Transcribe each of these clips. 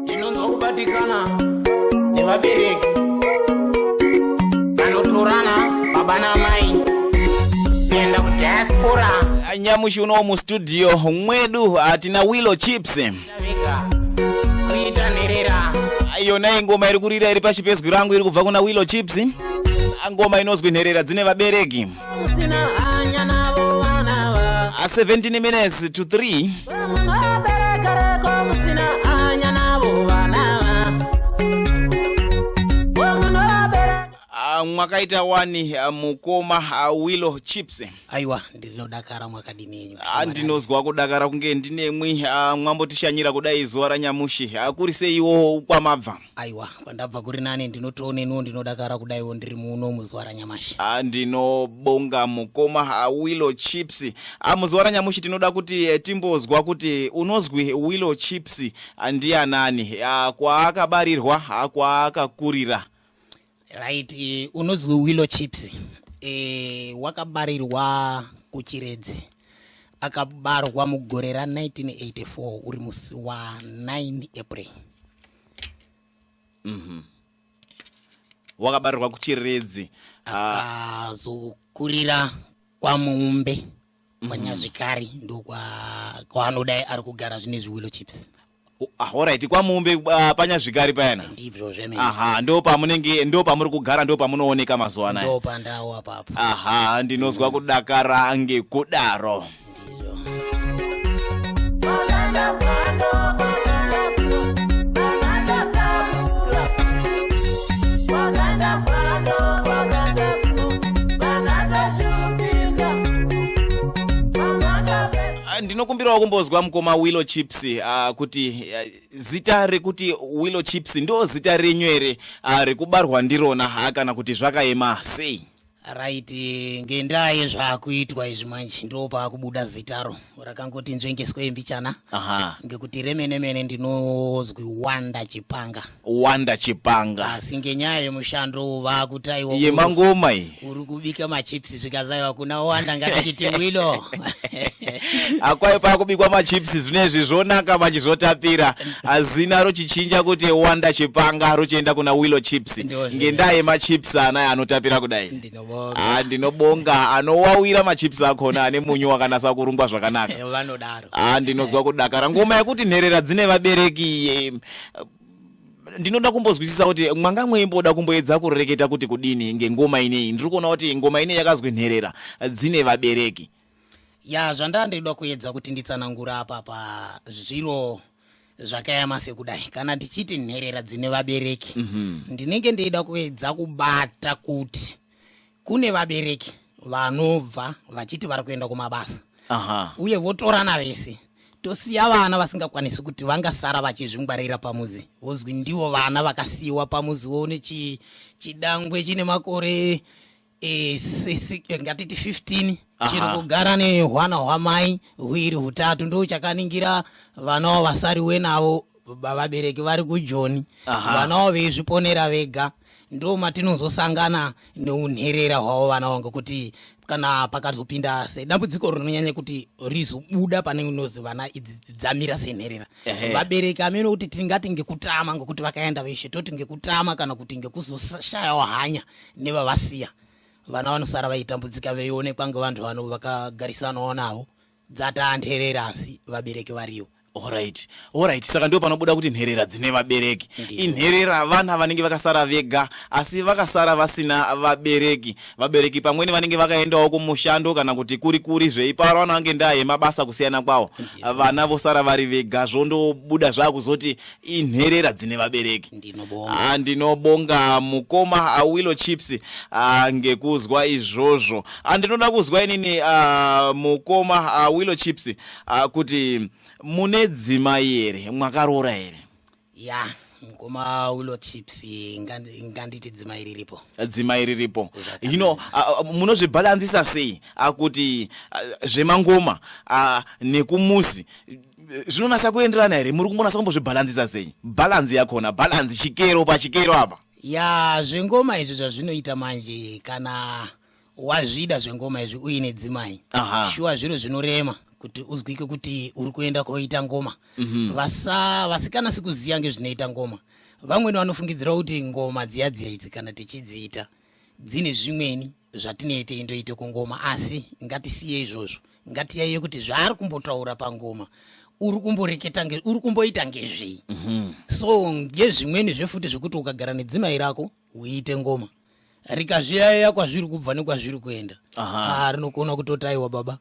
ndinonzwa kubatikana nevabereki vanotorana baba namai kuenda kudiaspora nyamushi unowo mustudio mwedu hatina willow chips kuita nherera yona ingoma iri kurira iri pashi pezwi rangu iri kubva kuna willow chips ngoma inozwi nherera dzine vabereki a 17 minutes to 3 ah, mwakaita wani ah, mukoma ah, willow chips aiwa ndinodakara mwakadini yenyu ndinozwa kudakara kunge ndinemwi mwambotishanyira kudai zuva ranyamushi kuri seiwo kwamabva aiwa kwandabva kuri nani ndinotooneniwo ndinodakara kudaiwo ndiri muno muzuva ranyamashi ah, ndinobonga mukoma ah, willow chips ah, muzuva ranyamushi tinoda kuti eh, timbozwa kuti unozwi willow chips ndianani kwaakabarirwa kwaakakurira right eh, unonzwi willow chips eh, wakabarirwa kuchiredzi akabarwa mugore ra 1984 uri musi wa 9 april mhm. wakabarirwa kuchiredzi ah. akazokurira kwamumbe mhm. kwanyazvikari ndokwaanodai ari kugara zvine zviwilo chips ahoraiti ah, kwamumbe uh, panyazvikari payana ndizvo zvemene aha ndo pamunenge ndo pamuri kugara ndo pamunooneka mazuva anaya ndo pandawo apapo aha ndinozwa kudakara ngekudaro ndinokumbirawo kumbozwa mukoma willow chips chips uh, kuti uh, zita rekuti willow chips ndo zita renyu here uh, rekubarwa ndirona ha kana kuti zvakaema sei right ngendaa yezvaakuitwa izvi manje ndo paakubuda zitaro rakangoti nzvengeswe mbichana ngekuti remene mene ndinozwi wanda chipanga wanda chipanga asi ngenyaya yemushando uwu vaakutaiwa yemangoma iyi uri kubika machips zvikazaiwa kuna wanda ngatichiti wilo akwayo pakubikwa machips zvinezvi zvonaka manje zvotapira azina rochichinja kuti wanda chipanga rochienda kuna wilo chips ngendaa yemachips anaya anotapira kudai ndinobonga ah, anowawira machips akona ane munyu wakanasa kurungwa zvakanaka vanodaro ah, ndinonzwa kudakara ngoma yekuti nherera dzine vabereki ndinoda kumbozwisisa kuti mwanga mweimboda kumboedza kureketa kuti kudini ngengoma ineyi ndiri kuona kuti ngoma ineyi yakazwi nherera dzine vabereki ya zvandandirida kuedza kuti nditsanangura apa pazviro zvakayama sekudai kana ndichiti nherera dzine vabereki mm -hmm. ndinenge ndeida kuedza kubata kuti kune vabereki vanobva vachiti vari kuenda kumabasa Aha. uye votorana vese tosiya vana vasingakwanisi kuti vangasara vachizvingwarira pamuzi vozwi ndivo vana vakasiyiwa pamuzi woone chi- chidangwe chine makore eh, se- se- eh, ngatiti 15 Aha. chiri kugara nehwana hwamai hwiri hutatu ndo chakaningira vana wavasariwe navo vabereki vari kujoni vana wavo veizviponera vega ndo matinozosangana neunherera hwavo vana wangu kuti kana pakazopinda sedambudziko rinonyanya kuti rizobuda pane unozi vana idzi dzamira senherera vabereki amene kuti tingati ngekutama ngokuti vakaenda veshe toti ngekutama kana kuti ngekuzoshayawo hanya nevavasiya vana vanosara vaitambudzika veionekwa ngevanhu vano vakagarisanawo navo dzataa nherera asi vabereki variyo orit orit saka ndo panobuda kuti nherera dzine vabereki inherera vana vanenge vakasara vega asi vakasara vasina vabereki vabereki pamweni vanenge vakaendawo kumushando kana kuti kuri kuri zveiparo vanange ndaa yemabasa kusiyana kwawo vana vosara vari vega zvondobuda zvaakuzoti inherera dzine vabereki ndinobonga ah, ndinobonga mukoma awilo ah, chips ah, ngekuzwa izvozvo ndinoda kuzwa inini mukoma awilo chips kuti mune dzima here mwakaroora here ya yeah mukoma ulo tips nganditi dzima iri ripo dzima iri ripo hino munozvibhalanzisa sei kuti zvemangoma nekumuzi zvinonasa kuenderana here muri kumbonasa kumbozvibhalanzisa sei bhalanzi yakona bhalanzi chikero pachikero apa ya zvengoma izvi zvazvinoita manje kana wazvida zvengoma izvi uine dzimai shuwa zviro zvinorema kuti uzwike kuti uri kuenda koita ngoma mhm. vasa vasikana sikuziva ngezvinoita ngoma vamweni vanofungidzirawo kuti ngoma dziya dziya idzi kana tichidziita dzine zvimweni zvatinei teindoita kungoma asi ngatisiye izvozvo ngatiyaiye kuti zvaari kumbotaura pangoma uri kumboreketa uri kumboita ngezvei mhm. so ngezvimweni zvefuti zvekuti ukagara nedzimai rako uiite ngoma rikazviyaiya kwazviri kubva nekwazviri kuenda ah, rinokona kutotaiwa baba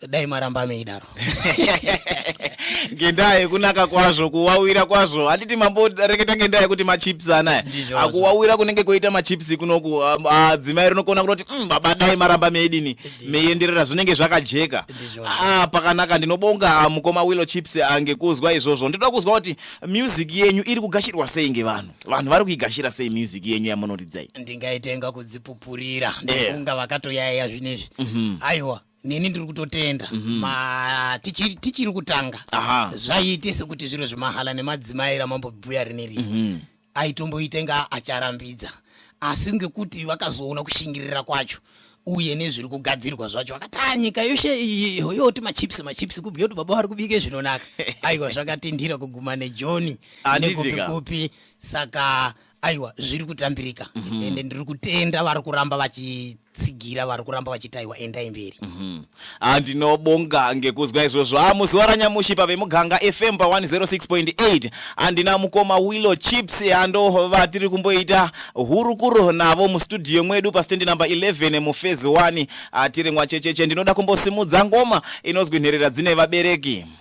dai maramba meidaro ngendaa yekunaka kwazvo kuwawira kwazvo handiti mamboreketa ngendaa yekuti machips anaya akuwawira kunenge kwoita machips kunoku ah, dzimai rinokona kutoti mm, baba dai maramba meidini meienderera zvinenge zvakajeka ah, pakanaka ndinobonga ah, mukoma willo chips ngekuzwa izvozvo ndinoda kuzwa kuti music yenyu iri kugashirwa sei ngevanhu vanhu vari kuigashira sei music yenyu yamunoridzai ndingaitenga kudzipupurira eh. ndofunga vakatoyaiya zvinezvi mhm. aiwa neni ndiri kutotenda Mhm. ma tichiri tichiri kutanga aha zvaiite sekuti zviro zvemahala nemadzimai ramambobhuya rineri Mhm. aitomboita inga acharambidza asi ngekuti vakazoona kushingirira kwacho uye nezviri kugadzirwa zvacho vakati "Ah, nyika yoshe iyi yoti machips machips kubhuya kuti baba vari kubike zvinonaka aiwa zvakatindira kuguma nejoni Handiti ka? nekupikupi saka aiwa zviri kutambirika mm -hmm. ende ndiri kutenda vari kuramba vachitsigira vari kuramba vachiti aiwa endai mberi mhm. andinobonga mm -hmm. ngekuzwa izvozvo a muzuva ranyamushi pavemuganga fm pa 106.8 andina mukoma willow chips ando vatiri kumboita hurukuro navo mustudio mwedu pastendi number 11 mufezi 1 tiri mwachecheche ndinoda kumbosimudza ngoma inozwi nherera dzine vabereki mm -hmm.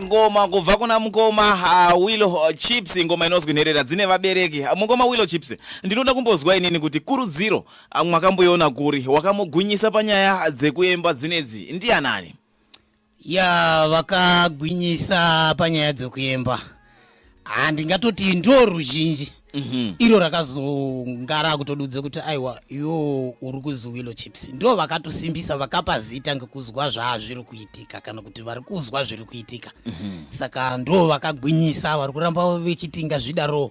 ngoma kubva kuna mukoma uh, willo uh, chips ngoma inozwi nherera dzine vabereki uh, mukoma willo chips ndinoda kumbozwa inini kuti kurudziro Ah, mwakamboiona kuri wakamugwinyisa panyaya dzekuemba dzinedzi ndianani ya vakagwinyisa panyaya dzekuemba handingatoti ah, ndo ruzhinji mhm. iro rakazonga rakutodudze kuti aiwa iwo uri kuzi willow chips ndo vakatosimbisa vakapa zita ngekuzwa zvaazviri kuitika kana kuti vari kuzwa zviri kuitika mhm. saka ndo vakagwinyisa vari kuramba vechiti ngazvidaroo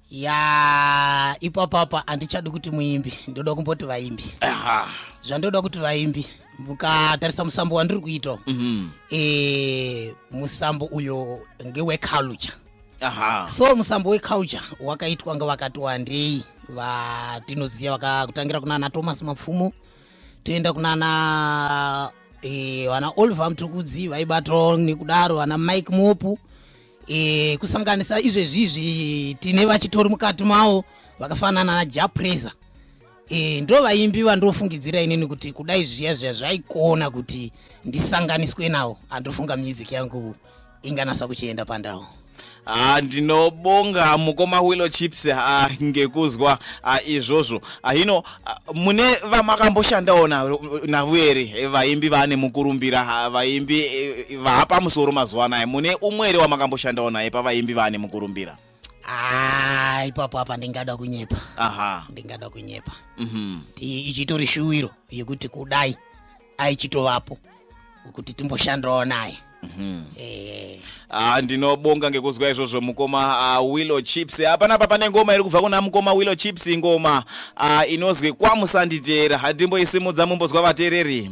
ya ipapapa handichadi kuti muimbi ndoda kumboti vaimbi zvandoda kuti vaimbi mukatarisa musambo wandiri kuita mhm. e, musambo uyo ngeweculture so musambo weculture wakaitwa nga vakati wandei vatinoziva vakakutangira kunana thomas mapfumo toenda kunana e, vana oliver mtukudzi vaibatwa nekudaro vana mike mopu e, kusanganisa izvezvizvi tine vachitori mukati mawo vakafanana najapresa e, eh, ndo vaimbi vandofungidzira inini kuti kudai zviya zviya zvaikona kuti ndisanganiswe nawo andofunga music yangu inganasa kuchienda pandau Ah, ndinobonga mukoma willow chips ah, ngekuzwa ah, izvozvo ah, hino mune vamakamboshandawo navo here eh, vaimbi vane mukurumbira vaimbi eh, eh, vapa musoro mazuva anaya mune umwe here wamakamboshandawo naye pavaimbi vane mukurumbira ah, ipapo apa ndingada kunyepa ndingada kunyepa mhm. ichitori shuwiro yekuti kudai aichitovapo kuti timboshandirawo naye mhm. eh. ah, ndinobonga ngekuzwa izvozvo mukoma ah, willow chips hapana ah, apa pane ngoma iri kubva kuna mukoma willow chips ngoma inozwi kwamusanditeera hatimboisimudza mumbozwa vateereri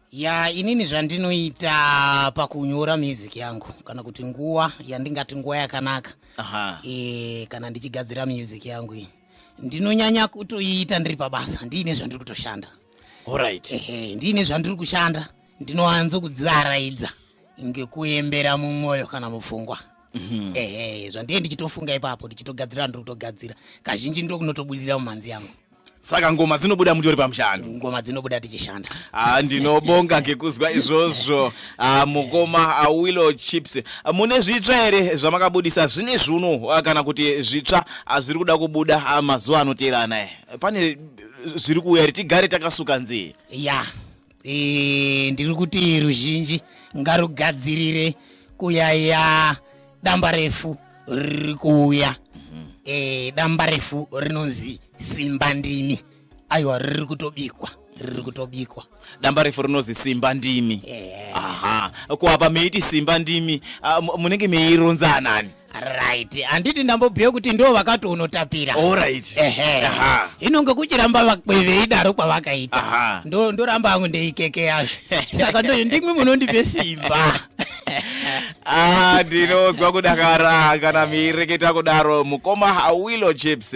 ya inini zvandinoita pakunyora music yangu kana kuti nguva yandingati nguva yakanaka e, kana ndichigadzira music yangu iyi ndinonyanya kutoiita ndiri pabasa ndiine zvandiri kutoshanda right. ehe ndiine zvandiri kushanda ndinowanzo kudzaraidza ngekuembera mumwoyo kana mupfungwa mhm. ehe zvandiye ndichitofunga ipapo ndichitogadzira ndiri kutogadzira kazhinji ndokunotobudirira mumhanzi yangu saka ngoma dzinobuda mutori pamushando ngoma dzinobuda tichishanda ah, ndinobonga ngekuzwa izvozvo ah, mukoma ah, willow chips ah, mune zvitsva here zvamakabudisa zvine zvuno ah, kana kuti zvitsva ah, zviri kuda kubuda ah, mazuva anoteerana eh, pane zviri kuuya here tigare takasuka nzee ya yeah. e, ndiri kuti ruzhinji ngarugadzirire kuyaya damba refu riri kuuya e, damba refu rinonzi simba ndimi aiwa riri kutobikwa riri kutobikwa damba refu rinozi simba ndimi yeah. aha kuapa meiti simba ndimi ah, munenge meironza anani right handiti ndambobhuya kuti ndo vakati unotapira orit ehe inonge kuchiramba vakwe veidaro kwavakaita ndoramba hangu ndeikekeya saka ndo ndimwe munondipe simba ah, ndinonzwa kudakara kana miireketa kudaro mukoma hawilo chips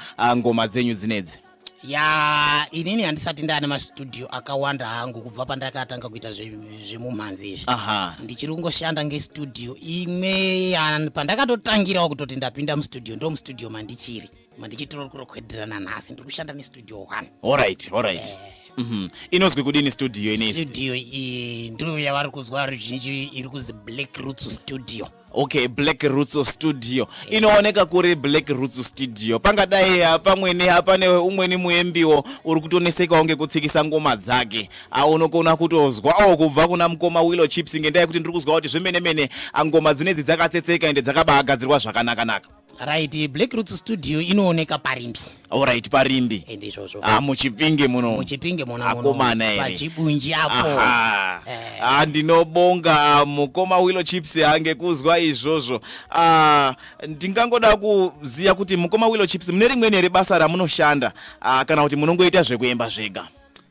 uh, ngoma dzenyu dzinedzi ya inini handisati ndaane mastudio akawanda hangu kubva pandakatanga kuita zvemumhanzi izvi ndichiri kungoshanda ngestudio imwe pandakatotangirawo kutoti ndapinda mustudio ndo mustudio mandichiri mandichitiro kurokhwedirana nhasi ndiri kushanda nestudio one allright allright eh. mhm. inozwi kudini studio inestudio iyi ndiyo yavari kuzwa ruzhinji iri kuzi black roots studio okay black roots of studio inooneka kuri black roots studio pangadai hapamwene hapane umweni muembiwo uri kutonesekawo ngekutsikisa ngoma dzake aunokona kutozwawo kubva kuna mukoma willow chips ngendaa yekuti ndiri kuzwa kuti zvemene mene angoma dzinedzi dzakatsetseka ende dzakabaagadzirwa zvakanakanaka right black roots studio inooneka parimbi orit parimbi ende izvozvo ah, muchipinge muno muchipinge munoakomana here pachibunji apo eh. ah, ndinobonga mukoma willow chips ange kuzwa izvozvo ah, ndingangoda kuziva kuti mukoma willow chips mune rimweni here basa ramunoshanda ah, kana kuti munongoita zvekuemba zvega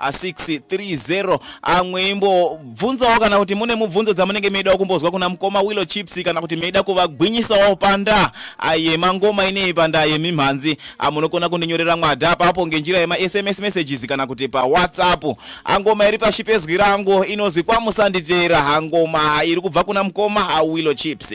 630 amwe imbobvunzawo kana kuti mune mubvunzo dzamunenge meidawo kumbozwa kuna mukoma willow chips kana kuti meida kuvagwinyisawo panda yemangoma inei panda yemimhanzi amunokona kundinyorera mwada apapo ngenjira yemasms messages kana kuti pawhatsapp angoma iri pashi pezwi rangu inozwi kwamusanditera hangoma iri kubva kuna mukoma willow chips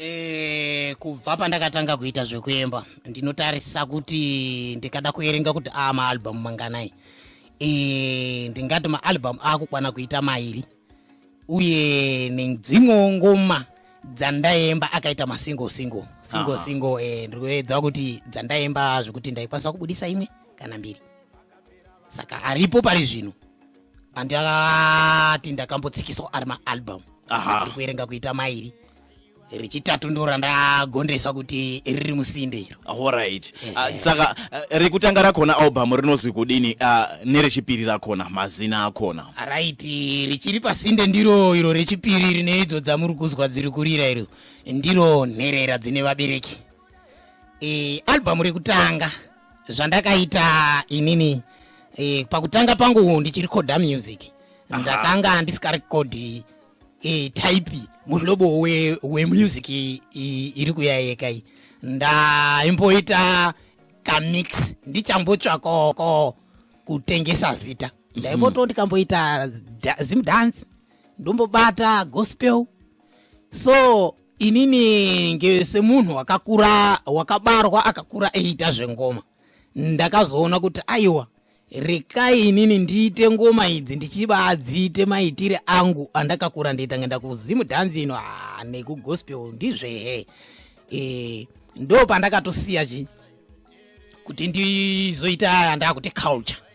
Eh, kubva pandakatanga kuita zvekuemba ndinotarisa kuti ndikada kuerenga kuti aa maalbhamu manganai eh, ndingati maalbhamu akukwana kuita mairi uye nedzimwewo ngoma dzandaemba akaita masingle single single single eh, ndiri kuedza kuti dzandaemba zvekuti ndaikwanisa kubudisa imwe kana mbiri saka aripo pari zvino andati ndakambotsikiswa ari maalbum ari kuerenga kuita mairi rechitatu ndo randagondesa kuti riri musinde iro horit uh, ah, saka uh, rekutanga rakona album rinozwi kudini uh, nerechipiri rakona mazina akona rit richiri pasinde ndiro iro rechipiri rine idzo dzamuri kuzwa dziri kurira iro ndiro nherera dzine vabereki e, albhamu rekutanga zvandakaita inini e, pakutanga pangu ndichirekodha music ndakanga ndisikarekodhi e, type muhlobo wemusic we iri kuya yeka iyi ndaimboita kamix ndichambotsvakoko kutengesa zita ndaimboto mhm. ndikamboita zimdance ndombobata gospel so inini nge semunhu wakakura wakabarwa akakura eiita zvengoma ndakazoona kuti aiwa rekai inini ndiite ngoma idzi ndichiba adziite maitire angu andakakura ndiita ngenda kuzimu dhanzi ino ah, nekugospel ndizvehe e, ndo pandakatosiya chi kuti ndizoita andakuti culture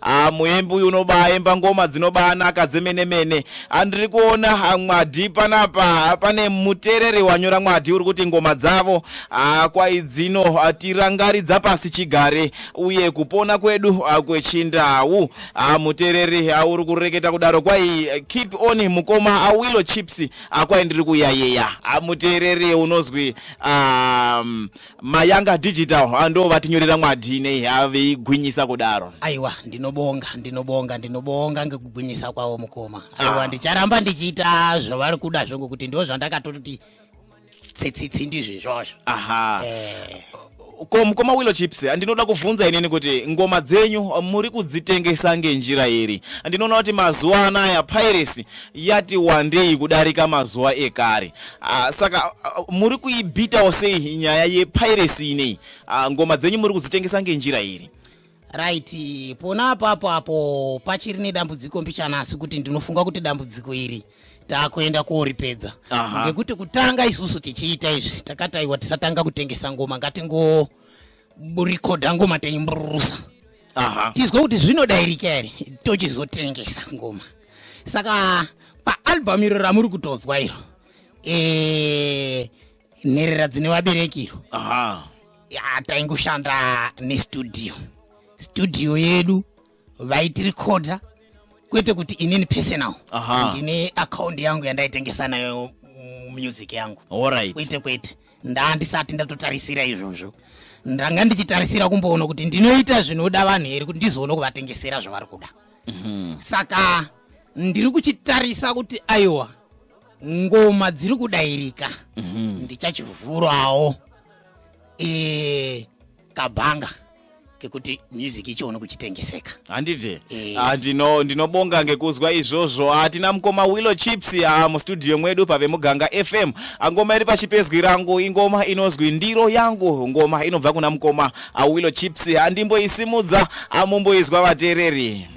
Ah, muimbi uyu unobaimba ngoma dzinobanaka dzemene mene andiri kuona ah, mwadhi panapa pane mutereri wanyora mwadhi uri kuti ngoma dzavo ah, kwaidzino ah, tirangaridza pasi chigare uye kupona kwedu ah, kwechindau ah, mutereri ah, uri kureketa kudaro kwai eh, keep on mukoma awilo chips ah, kwai ndiri kuyayeya ah, mutereri unozwi um, mayanga digital ndo vatinyorera mwadhi nei veigwinyisa kudaro aiwa ndinobonga ndinobonga ndinobonga ngekugwinyisa kwavo mukoma aiwa ah. ndicharamba ndichiita zvavari kuda zvo ngokuti ndo zvandakatoti tsitsitsi ndizvo izvozvo aha eh. ko mukoma willow chips ndinoda kuvhunza inini kuti ngoma dzenyu muri kudzitengesa ngenjira iri ndinoona kuti mazuva anaya piracy yati wandei kudarika mazuva ekare Ah, saka ah, muri kuibitawo sei nyaya yepiracy inei ah, ngoma dzenyu muri kudzitengesa ngenjira iri right pona apapo apo pachiri nedambudziko mbichana asi kuti ndinofunga kuti dambudziko iri taakuenda koripedza ngekuti kutanga isusu tichiita izvi takataiwa tisatanga kutengesa ngoma ngatingo rekodha ngoma taimburusa tizwe kuti zvinodairika here tochizotengesa ngoma saka paalbhamu iro ramuri kutozwa iro e, nherera dzine vabereki iro taingoshanda nestudio studio yedu vaitirikodha kwete kuti inini personal Aha. ndine akaundi yangu yandaitengesa nayo mm, music yangu Alright. kwete kwete ndandisati ndatotarisira izvozvo ndanga ndichitarisira kumboona kuti ndinoita zvinoda vanhu here kuti ndizoona kuvatengesera zvavari kuda saka ndiri kuchitarisa kuti aiwa ngoma dziri kudairika ndichachivhurawo Eh, kabhanga kekuti music ichiona kuchitengeseka handiti eh. ah, ndino ndinobonga ngekuzwa izvozvo hatina ah, mukoma willow chips ah, mustudio mwedu pave muganga fm ngoma iri pachipezwi rangu ingoma inozwi ndiro yangu ngoma inobva kuna mukoma willow chips handimboisimudza amumboizwa vateereri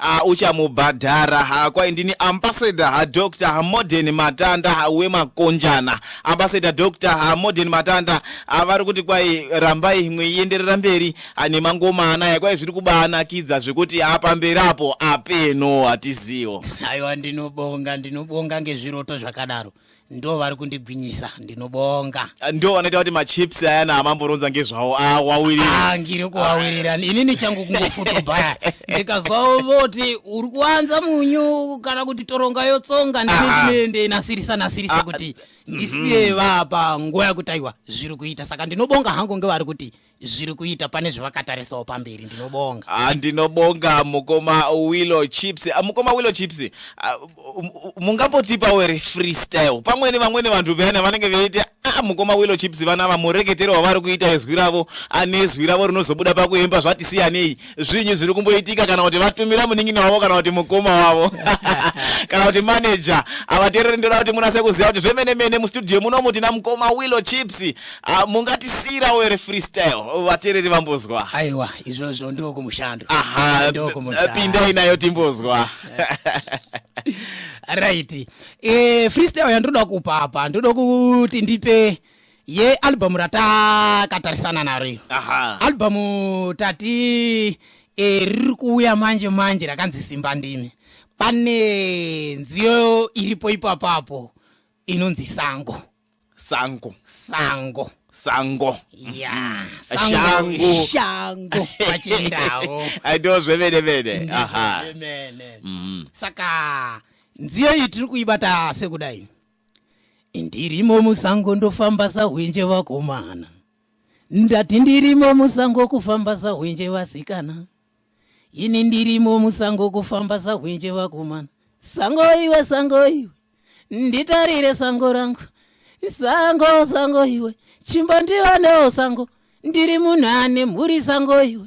uh, uchamubhadhara uh, kwai ndini ambassador uh, dr uh, modern matanda uh, wemakonjana ambassador dr uh, modern matanda uh, vari kuti kwai rambai mweienderera mberi uh, nemangoma anaya kwai zviri kubaanakidza zvekuti apamberi uh, apo apeno hatiziwo aiwa ndinobonga ndinobonga ngezviroto zvakadaro ndo vari kundigwinyisa ndinobonga ah, ndo vanoita kuti machips ayana amamboronza ngezvawo awawirira ah, ngiri kuwawirira inini changu kungofutobhaya ndikazwa voti uri kuwanza munyu kana kuti toronga yotsonga ndinenasirisa nasirisa kuti ndisiye mhm. vapa nguva yakutaiwa zviri kuita saka ndinobonga hangu ngevari kuti zviri kuita pane zvevakatarisawo pamberi ndinobonga ah, ndinobonga mukoma willow chips ah, mukoma willow chips ah, mungambotipawo ere freestyle pamweni vamweni vanhu vayana vanenge veiti ah, mukoma willow chips vana vamureketero wavari kuita izwi ravo anezwi ravo rinozobuda pakuemba zvati siyanei zvinyi zviri kumboitika kana kuti vatumira munin'ina wavo kana kuti mukoma wavo kana kuti manager havateereri ndoda kuti munase kuziva kuti zvemene mene mustudio muno muti namukoma willow chips ah, mungatisiyira were freestyle vateereri vambozwa aiwa izvozvo ndiko kumushando aha Ndiko kumushando. pindai nayo timbozwa right e, freestyle yandinoda kupa apa ndoda kuti ndipe ye album ratakatarisana naro iyo aha album tati eh, riri kuuya manje manje rakanzi simba ndimi pane nziyo iripo ipapapo inonzi sango sango sango sango ya Shango. shango pachindau Ah, ndo zvemene mene aha Zvemene. Mhm. saka nziyo iyi tiri kuibata sekudai ndirimo musango ndofamba sahwenje vakomana ndati ndirimo musango kufamba sahwenje vasikana ini ndirimo musango kufamba sahwenje vakomana sango iwe sango iwe nditarire sango rangu sango sango iwe chimbo ndionewo sango ndiri munhu ane mhuri sango iwe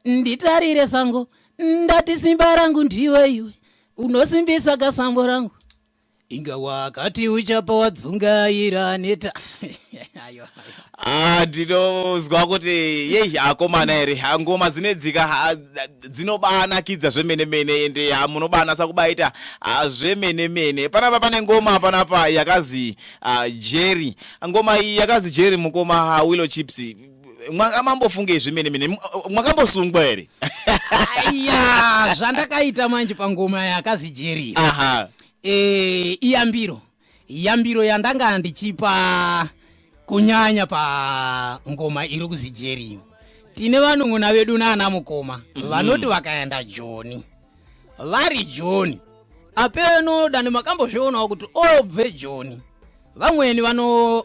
nditarire sango ndati simba rangu ndiwe iwe unosimbisa kasambo rangu inga wakati uchapa wadzungaira neta ayo ah, ndinozwa kuti yei akomana here ngoma dzinedzika dzinobanakidza zvemene mene ende munobanasa kubaita ah, zvemene mene panapa pane ngoma panapa yakazi ah, jerry ngoma iyi yakazi jerry mukoma willow chips Mwanga mambofungei zvemene mene? M- Mwakambosungwa here? aya zvandakaita manje pangoma yakazi jeri Aha. e, iyambiro yambiro yandanga ndichipa kunyanya pa ngoma iri kuzi jeri tine vanun'una vedu naana mukoma vanoti vakaenda joni vari joni apeno dani makambozvionawo kuti obve joni vamweni vano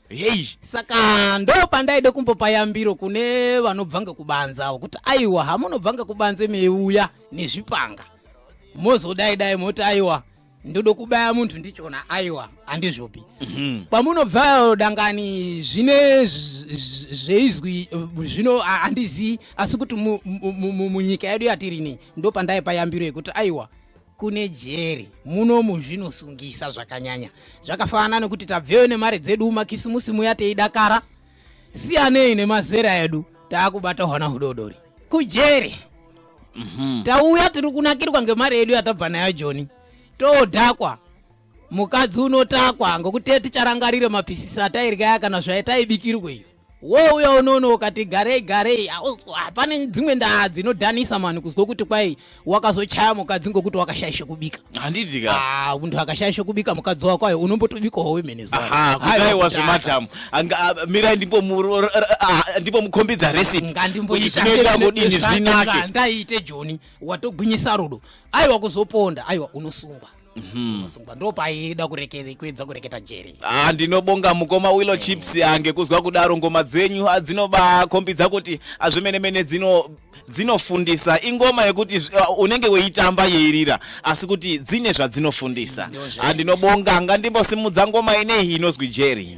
hei saka ndo pandaida kumbopa yambiro kune vanobvanga kubanze avo kuti aiwa hamunobvanga kubanze meiuya nezvipanga mozodai dai moti aiwa ndoda kubaya munhu ndichona aiwa handizvopi mhm. kwamunobvayo dangani zvine zveizwi zvino handizivi asi kuti munyika yedu yatirini ndo pandaipa yambiro yekuti aiwa kune jeri munomu zvinosungisa zvakanyanya zvakafanana nekuti tabveyo nemari dzedu makisimusi muya teidakara siyanei nemazera edu taakubata hwana hudodori kujeri mm -hmm. tauya tiri kunakirwa ngemari yedu yatabva nayo joni todhakwa mukadzi unotakwa ngokuti ticharangarire mapisisi atairya kana zvaitaibikirwa iyo wouya unono ukati garei garei hapane dzimwe ndaa dzinodhanisa mani kuzwa kuti kwai wakazochaya mukadzi ngokuti wakashaishe kubika handiti ka ah, munhu akashaishe kubika mukadzi wako ayo unombotobikawo wemene zudai wazvematamu mirai ndipo mukhombidza resipngandimboitinoita kudini zvinake ndaiite joni watogwinyisa rudo aiwa kuzoponda aiwa unosungwa Mhm. masungwa ndo paida kureketa kuedza kureketa jeri Ah, ndinobonga mukoma willow chips ange kuzwa kudaro ngoma dzenyu ah, dzinobakhombidza kuti ah, zvemene mene dzino dzinofundisa ingoma yekuti zv- ah, unenge weitamba yeirira asi kuti dzine zvadzinofundisa Ndozvo. Ah, ndinobonga ngandimbosimudza ngoma ineyi inozwi jeri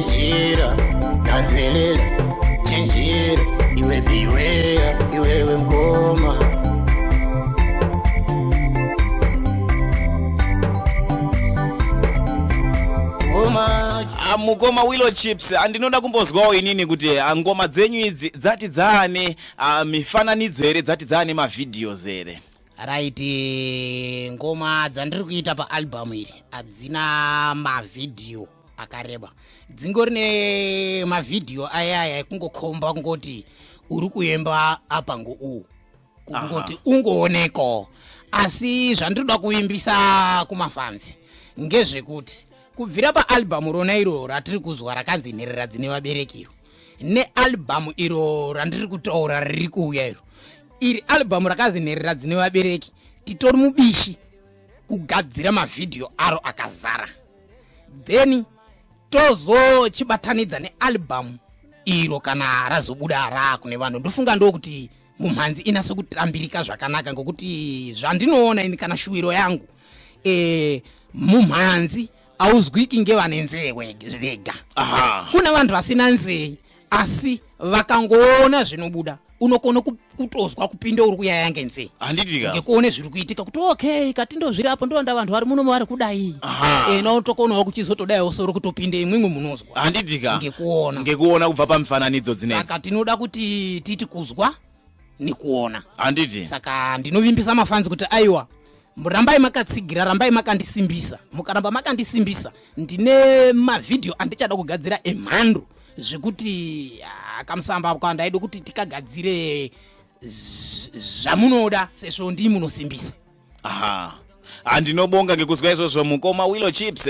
chinjira gadzelela chinjira iwe biweya iwewe mkoma ah, mukoma willow chips andinoda ah, kumbozwawo inini kuti ah, ngoma dzenyu idzi dzati dzaane mifananidzo here dzati dzaane mavhidhios here right ngoma dzandiri kuita paalbum iri hadzina mavhidhiyo akareba dzingori nemavhidhiyo ayaya ekungokhomba kungoti uri kuemba apa ngouwu kungoti ungooneko asi zvandinoda kuimbisa kumafanzi ngezvekuti kubvira paalbhamu rona iro ratiri kuzwa rakanzi nherera dzine vaberekiro nealbhamu iro randiri kutaura riri kuuya iro iri albhamu rakanzi nherera dzine vabereki titori mubishi kugadzira mavhidhiyo aro akazara then tozochibatanidza nealbum iro kana razobuda raa kune vanhu ndofunga ndokuti mumhanzi inase kutambirika zvakanaka ngokuti zvandinoona ini kana shuwiro yangu e, mumhanzi auzwiki ngevane nzee vega kune vanhu vasina nzee asi vakangoona zvinobuda unokona kutozwa kupinda uri kuyaya ngenzee handitiingekuone zviri kuitika kuti okay kati ndozviri apo ndovanda vanhu vari muno vari kudai ena utokonawo kuchizotodaiwo soro kutopinda imwimwe munozwa handitika ngekuona ngekuona kubva pamifananidzo dzineka tinoda kuti titi kuzwa nekuona handiti saka ndinovimbisa mafanzi kuti aiwa rambai makatsigira rambai makandisimbisa mukaramba makandisimbisa ndine mavhidhiyo andichada kugadzira emhando zvekuti ah, kamusamba kwa ndaidi kuti tikagadzire zvamunoda sezvo ndii munosimbisa aha handinobonga ngekuzwa izvozvo mukoma willow chips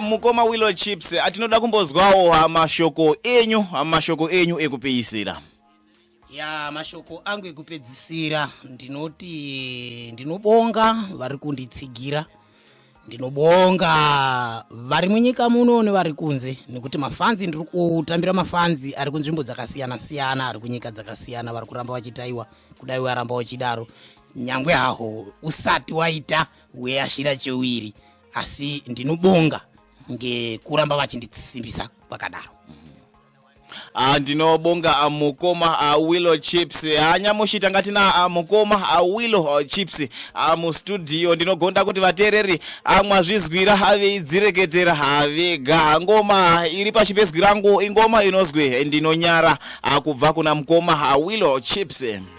mukoma willow chips atinoda kumbozwawo mashoko enyu mashoko enyu ekupeisira ya mashoko angu ekupedzisira ndinoti ndinobonga vari kunditsigira ndinobonga vari munyika muno nevari kunze nekuti mafanzi ndiri kutambira mafanzi ari kunzvimbo dzakasiyana siyana ari kunyika dzakasiyana vari kuramba vachitaiwa kudai waramba uchidaro nyangwe haho usati waita weashira chewiri asi ndinobonga ngekuramba vachindisimbisa kwakadaro Ah, ndinobonga ah, mukoma ah, willow chips ah, nyamushi tanga tina ah, mukoma ah, willow ah, chips ah, mustudio ndinogonda kuti vateereri ah, mwazvizwira ah, veidzireketera ah, vega Ah, ngoma iri pashi pezwi rangu ingoma inozwi eh, ndinonyara ah, kubva kuna mukoma ah, willow chips